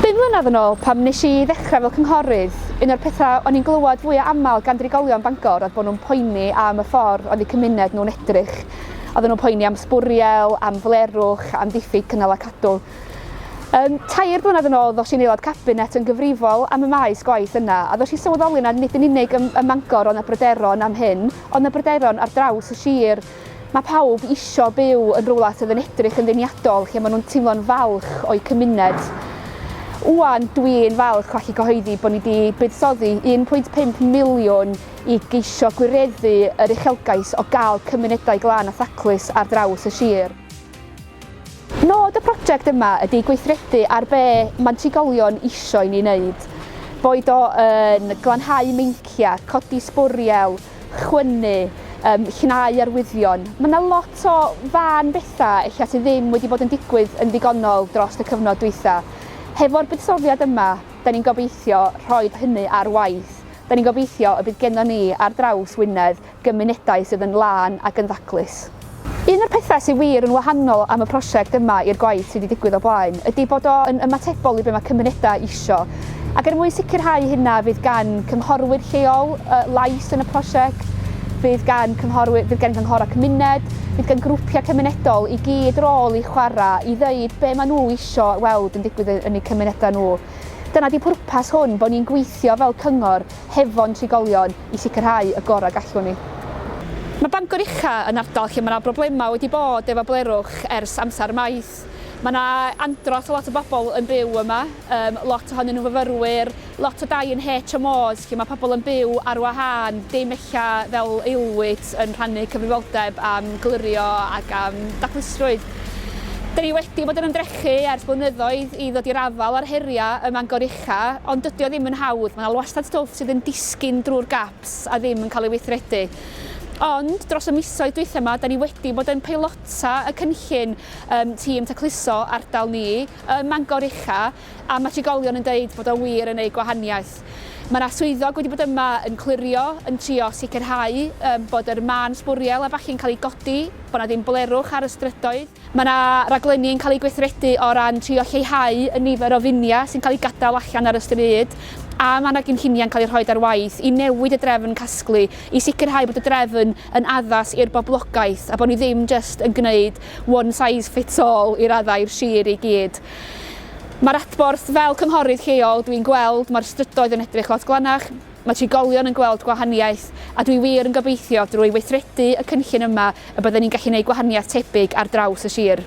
Bum mlynedd yn ôl, pam nes i ddechrau fel cynghorydd, un o'r pethau o'n i'n glywed fwya aml gan drigolion Bangor oedd bod nhw'n poeni am y ffordd oedd eu cymuned nhw'n edrych. Oedden nhw'n poeni am sbwriel, am flerwch, am ddiffyg cynnal a cadw. Um, tair blynedd yn ôl ddos i'n aelod cabinet yn gyfrifol am y maes gwaith yna a ddos i sylweddoli nad nid yn unig ym, ym Mangor ond na bryderon am hyn, ond na bryderon ar draws y sir. Mae pawb isio byw yn rywle sydd yn edrych yn ddeniadol, lle maen nhw'n teimlo'n falch o'u cymuned. Ŵan, dwi'n falch o allu cyhoeddi bod ni wedi buddsoddi 1.5 miliwn i geisio gwireddu yr uchelgais o gael cymunedau glân a thaclus ar draws y sir. Nod y prosiect yma ydy gweithredu ar be mae trigolion isio i ni wneud, boed o yn glanhau meinciau, codi sbwriel, chwynnu, yym llnau arwyddion. Ma' 'na lot o fân betha ella sy ddim wedi bod yn digwydd yn ddigonol drost y cyfnod dwytha. Hefo'r buddsoddiad yma, 'dan ni'n gobeithio rhoid hynny ar waith. 'Dan ni'n gobeithio y bydd gennon ni ar draws Wynedd gymunedau sydd yn lân ac yn ddaclus. Un o'r pethau sydd wir yn wahanol am y prosiect yma i'r gwaith sydd wedi digwydd o blaen ydy bod o yn ymatebol i be mae cymunedau isio. Ac er mwyn sicrhau hynna fydd gan cynghorwyr lleol lais yn y prosiect, fydd gan cynghorwyr, fydd gan gynghorau cymuned, fydd gan grwpiau cymunedol i gyd rôl i chwarae i ddeud be maen nhw isio weld yn digwydd yn eu cymunedau nhw. Dyna ydy pwrpas hwn, bod ni'n gweithio fel cyngor hefo'n trigolion, i sicrhau y gorau gallwn ni. Mae Bangor Ucha yn ardal lle mae yna broblemau wedi bod efo blerwch ers amser maith. Mae yna andros o lot o bobl yn byw yma, yym lot ohonyn nhw'n fyfyrwyr, lot o dai yn HMOs lle mae pobl yn byw ar wahân, dim ella fel aelwyd yn rhannu cyfrifoldeb am glirio ac am daclustrwydd. Dan ni wedi bod yn ymdrechu ers blynyddoedd i ddod i'r afael â'r heriau ym Mangor Ella, ond dydy o ddim yn hawdd, mae 'na wastad stwff sydd yn disgyn drwy'r gaps a ddim yn cael ei weithredu. Ond, dros y misoedd dwytha 'ma, 'da ni wedi bod yn peilota y cynllun ym Tîm Tacluso ardal ni ym Mangor Ucha, a mae trigolion yn deud bod o wir yn neud gwahaniaeth. Mae 'na swyddog wedi bod yma yn clirio, yn trio sicrhau bod yr mân sbwriel a ballu'n cael ei godi, bod 'na ddim blerwch ar y strydoedd. Mae yna raglenni yn cael eu gweithredu o ran trio lleihau y nifer o finiau sy'n cael eu gadael allan ar y stryd a mae yna gynlluniau'n cael eu rhoi ar waith i newid y drefn casglu i sicrhau bod y drefn yn addas i'r boblogaeth a bod ni ddim jyst yn gwneud one size fits all i raddau i'r sir i gyd. Mae'r adborth fel cynghorydd lleol dwi'n gweld mae'r strydoedd yn edrych lot glanach, Mae trigolion yn gweld gwahaniaeth, a dwi wir yn gobeithio drwy weithredu y cynllun yma y bydden ni'n gallu gwneud gwahaniaeth tebyg ar draws y sir.